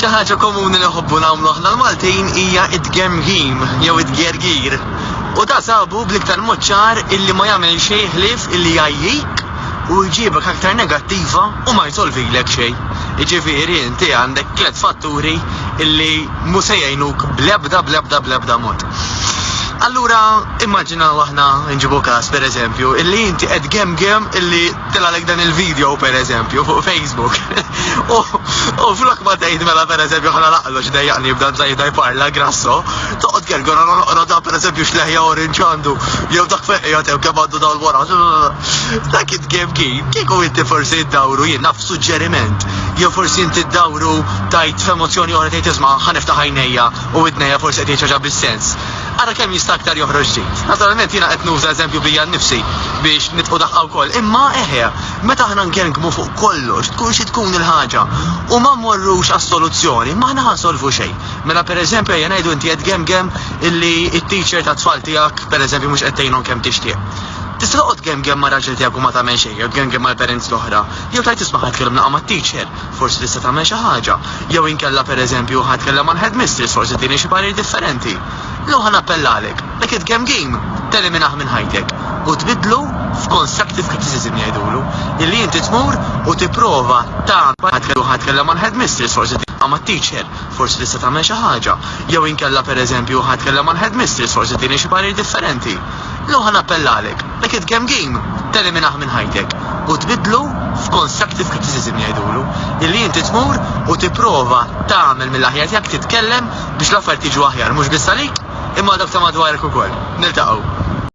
Xi ħaġa komuni li nħobbu nagħmlu aħna l-Maltin hija t-tgemgim jew it-tgergir. U da sabu bl-iktar mod ċar illi ma jagħmel xejn ħlief illi jgħajjik u jġibek aktar negattiva u ma jsolvilek xejn. Jiġifieri inti għandek tliet fatturi illi mhu se jgħinuk bl-ebda bl-ebda bl-ebda mod. Allura immaġinaw aħna nġibu każ pereżempju illi inti qed gemgem illi Tilalek dan il-video per eżempju fuq Facebook. U flok ma tgħid mela per eżempju ħana laqlu x'dejjaqni jibda mżajda jparla grasso, toqgħod kelgur għana noqgħod dan per eżempju x'leħja orange għandu, jew dak feqja tew kemm għandu dawl wara. Dak it game kien, kieku inti forsi ddawru jien naf suġġeriment, jew forsi inti ddawru tajt f'emozzjoni oħra tgħid isma' ħaniftaħ għajnejja u idnejja forsi qed jgħid ħaġa bis-sens. Ara kemm jista' aktar joħroġ ġid. Naturalment jiena qed nuża eżempju bija nnifsi biex nitqu daqqa wkoll, imma eħe, meta aħna ngerngmu fuq kollox, tkun xi tkun il-ħaġa, u ma mmorrux għas-soluzzjoni, ma aħna ħa nsolvu xejn. Mela pereżempju ejja ngħidu inti qed gemgem illi t-teacher tat-tfal tiegħek pereżempju mhux qed tgħinhom kemm tixtieq. Tista' toqgħod gemgem ma' raġel tiegħek u ma tagħmel xejn, jew tgemgem mal-parents l-oħra, jew tgħid isma' ħa tkellimna qa' mat-teacher, Forsi tista' tagħmel xi ħaġa. Jew inkella, per eżempju, ħa tkellem mal-headmistress, forsi tini xi parir differenti. Jew ħa nappellalek, dak it-game game, teliminah minn ħajtek u tbiddlu f'constructive criticism jgħidulu, illi inti tmur u tipprova tagħmel ħa tkellem mal-headmistress, forsi tagħmel ma' teacher, forsi tista' tagħmel xi ħaġa. Jew inkella, per eżempju, ħa tkellem mal-headmistress, forsi tini xi parir differenti. L-oħra nappellalek, dak it-tgame game teliminah minn ħajtek u tbiddlu f'constructive criticism jgħidulu, illi inti tmur u tipprova tagħmel mill-aħjar tiegħek titkellem biex l-affarijiet jiġu aħjar mhux biss għalik imma għal dawk ta' madwarek ukoll. Niltaqgħu.